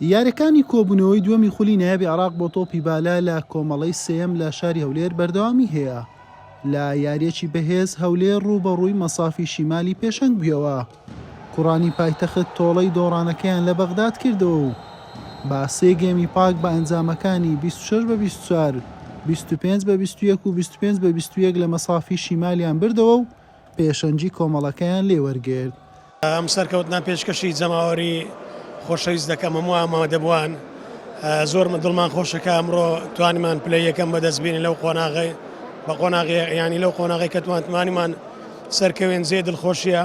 یارییەکانی کۆبوونەوەی دووەمی خولی نایابی عێراق بۆ تۆپی بالە لە کۆمەڵەی سێیەم لە شاری هەولێر بەردەوامی هەیە، لە یارییەکی بەهێز هەولێر رووبەڕووی مەسافی شیمالی پێشەنگ بوویەوە، کوڕانی پایتەخت تۆڵەی دۆڕانەکەیان لە بەغداد کردەوە و بە سێ گێمی پاک بە ئەنجامەکانی بیست و شەش بە بیست و چوار، بیست و پێنج بە بیست و یەک و بیست و پێنج بە بیست و یەک لە مەسافی شیمالیان بردەوە و پێشەنگی کۆمەڵەکەیان لێ وەرگرت. ئەم سەرکەوتنە پێشکەشی جەماوەری خۆشەویست دەکەم هەموو ئامادەبووان زۆر دڵمان خۆشە کە ئەمڕۆ توانیمان پلەی یەکەم بەدەست بینین لەو قۆناغی بە قۆناغی یانی لەو قۆناغی کە توانتمانیمان سەرکەوێن جێ دڵخۆشیە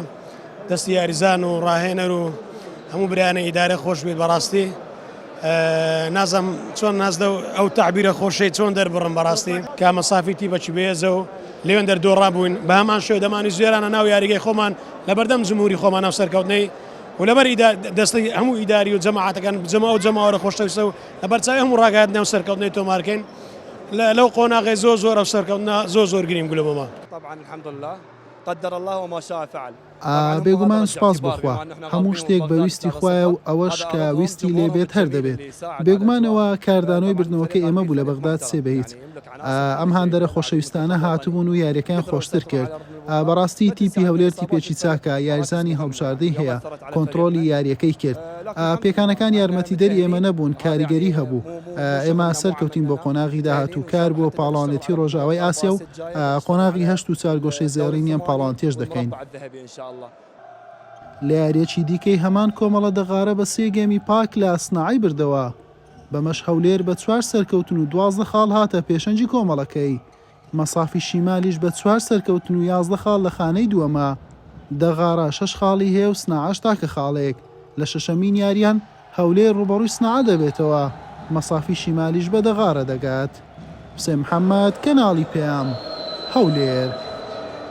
دەستی یاریزان و ڕاهێنەر و هەموو برایانە ئیدارە خۆش بێت بەڕاستی نازم چۆن ناز لەو ئەو تعبیرە خۆشەی چۆن دەربڕم بەڕاستی کامە سافی تی بەچی بێزە و لێوێن دەردۆڕا بووین بە هەمان شێو دەمانی زێرانە ناو یاریگەی خۆمان لە بەردەم جمهوری خۆمان ناو سەرکەوتنەی و لەبەر دەستی هەموو ئیداری و جەماعاتەکان بجەمە ئەو جەماوەرە خۆشەویستە و لە بەرچاوی هەموو ڕاگات ناو سەرکەوتنەی تۆمارکەین لەو قۆناغی زۆ زۆر ئەو سەرکەوتنا زۆ زۆر گریم گولەمەمە طبعا الحمد لله قدر الله وما شاء فعل ئا بێگومان سوپاس بۆ خوا هەموو شتێک بە ویستی خوایە و ئەوەش کە ویستی لێ بێت هەر دەبێت بێگومان ئەوە کاردانەوەی بردنەوەکەی ئێمە بوو لە بەغداد سێ بە هیچ ئا ئەم هاندەرە خۆشەویستانە هاتبوون و یاریەکەیان خۆشتر کرد ئا بەڕاستی تیپی هەولێر تیپێکی چاکە یاریزانی هەڵبژاردەی هەیە کۆنتڕۆلی یاریەکەی کرد ئا پێکانەکان یارمەتیدەری ئێمە نەبوون کاریگەری هەبوو ئا ئێمە سەرکەوتین بۆ قۆناغی داهاتوو کار بۆ پاڵەوانێتی ڕۆژاوای ئاسیا و قۆناغی هەشت و چارگۆشەی زێڕینیان پاڵانتێژ دەکەین. لە یارییەکی دیکەی هەمان کۆمەڵە دەغارە بە سێ گێمی پاک لە ئەسناعی بردەوە، بەمەش هەولێر بە چوار سەرکەوتن و دوازدە خاڵ هاتە پێشەنگی کۆمەڵەکەی، مەسافی شیمالیش بە چوار سەرکەوتن و یازدە خاڵ لە خانەی دووەمە، دەغارە شەش خاڵی هەیە و سناعەش تاکە خاڵێک لە شەشەمین یارییان. هەولێر ڕووبەڕووی سنعا دەبێتەوە، مەسافی شیمالیش بە دەغارە دەگات. حوسێن محەممەد، کەناڵی پەیام، هەولێر.